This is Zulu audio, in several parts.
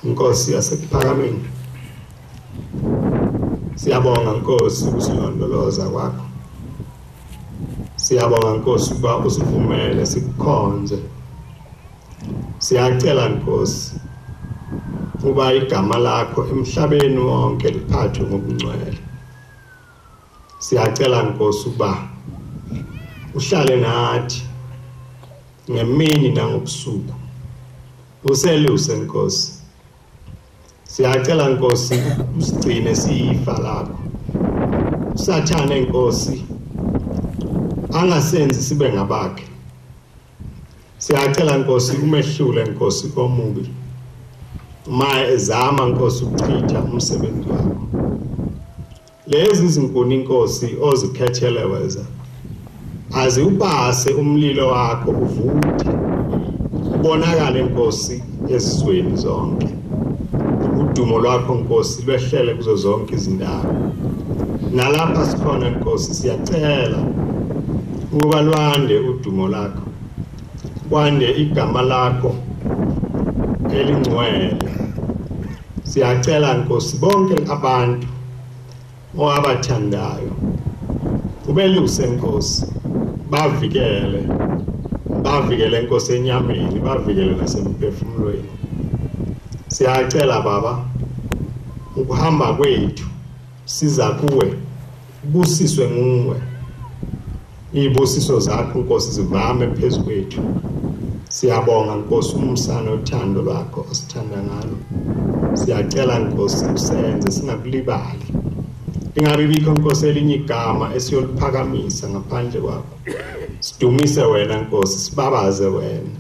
Nkosi yasekuphakameni Siyabonga Nkosi ukusilondoloza kwakho Siyabonga Nkosi ukuba usivumele sikukhonze Siyacela Nkosi uba igama lakho emhlabeni wonke liphathwe ngokungcwele Siyacela Nkosi ukuba uhlale nathi ngemini nangobusuku useluse Nkosi siyacela Nkosi usigcine siyifa lakho usathane Nkosi angasenzi sibe ngabakhe siyacela Nkosi umehlule Nkosi komubi uma ezama Nkosi ukuchitha umsebenzi wakho Lezi zinkoninkosi ozikhethele weza aziwubase umlilo wakho uvuthe ubonakale inkosi ezizweni zonke udumo lwakho nkosi lwehlele kuzo zonke izindawo nalapha sikhona nkosi siyacela ukuba lwande udumo lakho kwande igama lakho elingcwele Siyacela Nkosi bonke abantu owabathandayo ubeluse Nkosi bavikele bavikele Nkosi enyameni bavikele nasemphefumulweni siyacela baba ukuhamba kwethu siza kuwe Ubusiswe nguwe. Izibusiso zakho Nkosi zivame phezu kwethu. Siyabonga Nkosi umsana othando lwakho osithanda ngalo. Siyacela Nkosi usenze singakulibali. Ingabe bikho Nkosi elinye igama esiyoliphakamisa ngaphandle kwakho. Sidumise wena Nkosi, sibabaze wena.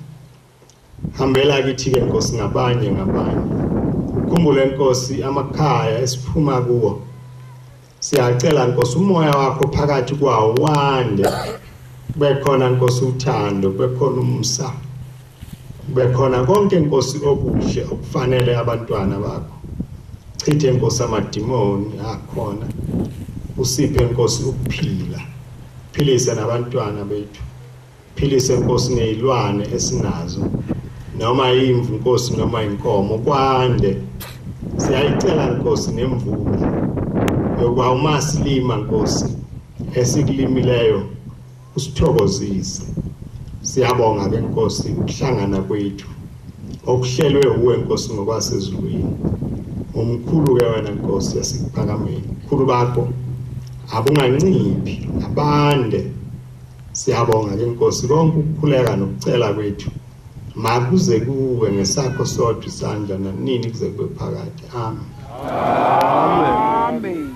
Hambela kithi-ke Nkosi ngabanye ngabanye. Khumbule Nkosi amakhaya esiphuma kuwo. Siyacela Nkosi umoya wakho phakathi kwawo wande. Kube khona Nkosi uthando, kube khona umsa. Kube khona konke Nkosi okuhle okufanele abantwana bakho. Chithe Nkosi amadimoni akhona. Usiphe Nkosi ukuphila. Philise nabantwana bethu. Philise Nkosi nezilwane esinazo noma imvu Nkosi noma inkomo kwande siyayicela Nkosi nemvula yokuba uma silima Nkosi esikulimileyo usithokozise siyabonga ke Nkosi ukuhlangana kwethu okuhlelwe uwe Nkosi ngokwasezulwini umkhulu ke wena Nkosi yasikuphakameni khulu bakho abunganciphi abande Siyabonga ke Nkosi konke ukukhuleka nokucela kwethu makuze kuwe ngesakho sodwa isandla nanini kuze kube phakade amen amen